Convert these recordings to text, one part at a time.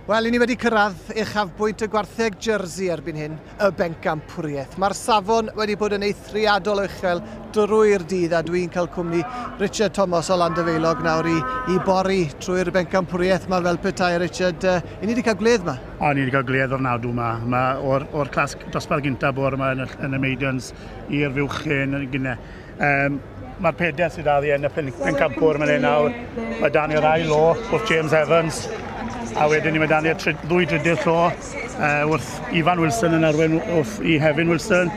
Wel, i ni wedi cyrraedd uchafbwynt y gwartheg Jersey erbyn hyn, y bencampwriaeth. Mae'r safon wedi bod yn eithriadol o uchel drwy'r dydd a dwi'n cael cwmni Richard Thomas o Landyfeilog nawr i, i bori trwy'r bencampwriaeth yma fel petai. Richard, uh, i ni wedi cael gwledd yma? O, ni wedi cael gwledd o'r nadw yma. Mae o'r, or clasg dosbarth gyntaf bore yma yn y, yn y Maidens, i'r fuwch hen yn gynne. Um, Mae'r pedair sydd addi yn y pen, pencampwr mae'n ei nawr. Mae dan i'r ail o, wrth James Evans. A wedyn ni mae dan i'r ddwy drydydd llo uh, wrth Ifan Wilson yn arwen wrth i Hefin Wilson.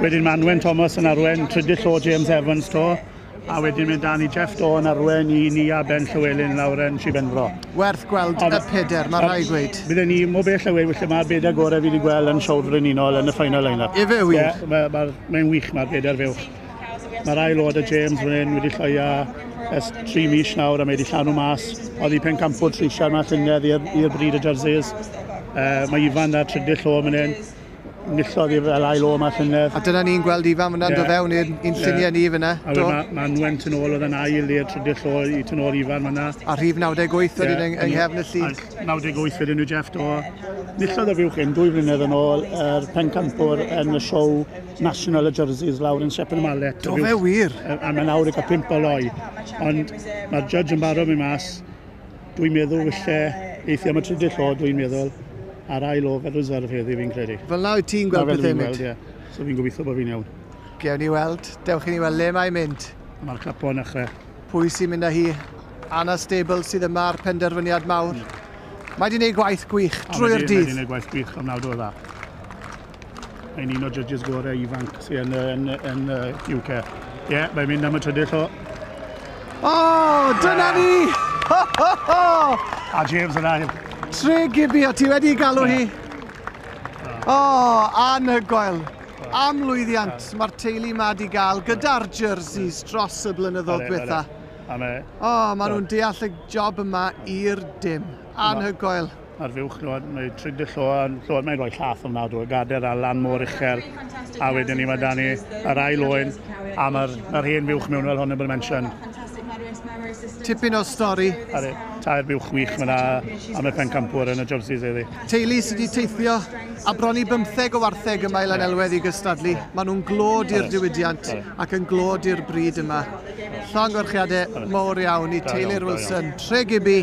Wedyn mae Anwen Thomas yn arwen trydydd llo James Evans to. a wedyn mynd dan i Jeff Dawn, Arwen, i ni a Ben Llywelyn lawr yn Sir Benfro. Werth gweld y peder, mae rhai gweud. Bydden ni mo bell away, felly mae'r beder gorau fi wedi gweld yn Siawr Frenhinol yn y final line-up. Efe wych. Yeah, mae, mae, mae'n wych, mae'r beder fewch. Mae'r ail oed y James fan hyn wedi llwio ers tri mis nawr a mae wedi llanw mas. Oedd i pen campwr treisiau yma llynedd i'r bryd y jerseys. Uh, mae Ifan a Trydyll o fan hyn. Nillodd i fel ail o yma llynedd. A dyna ni'n gweld Ifan fyna'n yeah. dod fewn i'r un lluniau yeah. ni fyna. A wedyn mae ma Nwen tyn ôl oedd yn ail i'r trydydd llo i tyn ôl Ifan fyna. A rhif 98 oedd yeah. yng, yng nghefn y llun. 98 wedyn nhw Jeff do. Nillodd y fiwch hyn dwy flynedd yn ôl yr pencampwr yn y siow National y Jerseys lawr yn Sepen y Malet. Do fe wir? A mae'n awr i cael pimp o loi. Ond mae'r judge yn barod mynd mas Dwi'n meddwl falle eithio am y trydydd lle, dwi'n meddwl, a'r ail o fel reserve heddi fi'n credu. Fel na wyt ti'n gweld pethau mynd? Ie. So fi'n gobeithio bod fi'n iawn. Gewn ni weld. Dewch i ni weld le mae'n mynd. Mae'r capo yn achre. Pwy sy'n mynd â hi? Anna Stable sydd yma ar penderfyniad mawr. Mm. Mae di wneud gwaith gwych drwy'r dydd. Mae di wneud gwaith gwych ofnadw o dda. Mae'n un o judges gorau ifanc sy'n yn, yn, yn, yn UK. Ie, yeah, mae'n mynd am y trydydd llo. O, oh, dyna ni! Ho, ho, ho! A James yn ail. Tre Gibby, o ti wedi galw hi? O, oh, anhygoel. Am lwyddiant, mae'r teulu ma di gael gyda'r jerseys dros y blynyddoedd diwetha. O, maen nhw'n deall y job yma i'r dim. Anhygoel. Ar fuwch lload, mae trid y lload, lload mae'n rhoi llath ofnadw, o gader a lan mor uchel, a wedyn ni mae da ni yr ail oen, a mae'r ma hen fuwch mewn fel hwn yn bod mention. Tipyn o stori. Are, tair buwch wych mae yna am y pencampwr yn y jerseys eddi. Teulu sydd wedi teithio a bron i bymtheg o wartheg yma i Lanelwedd i gystadlu. Maen nhw'n glod i'r diwydiant ac yn glod i'r bryd yma. Llongyfarchiadau mawr iawn i teulu'r Wilson, Tre Gibby,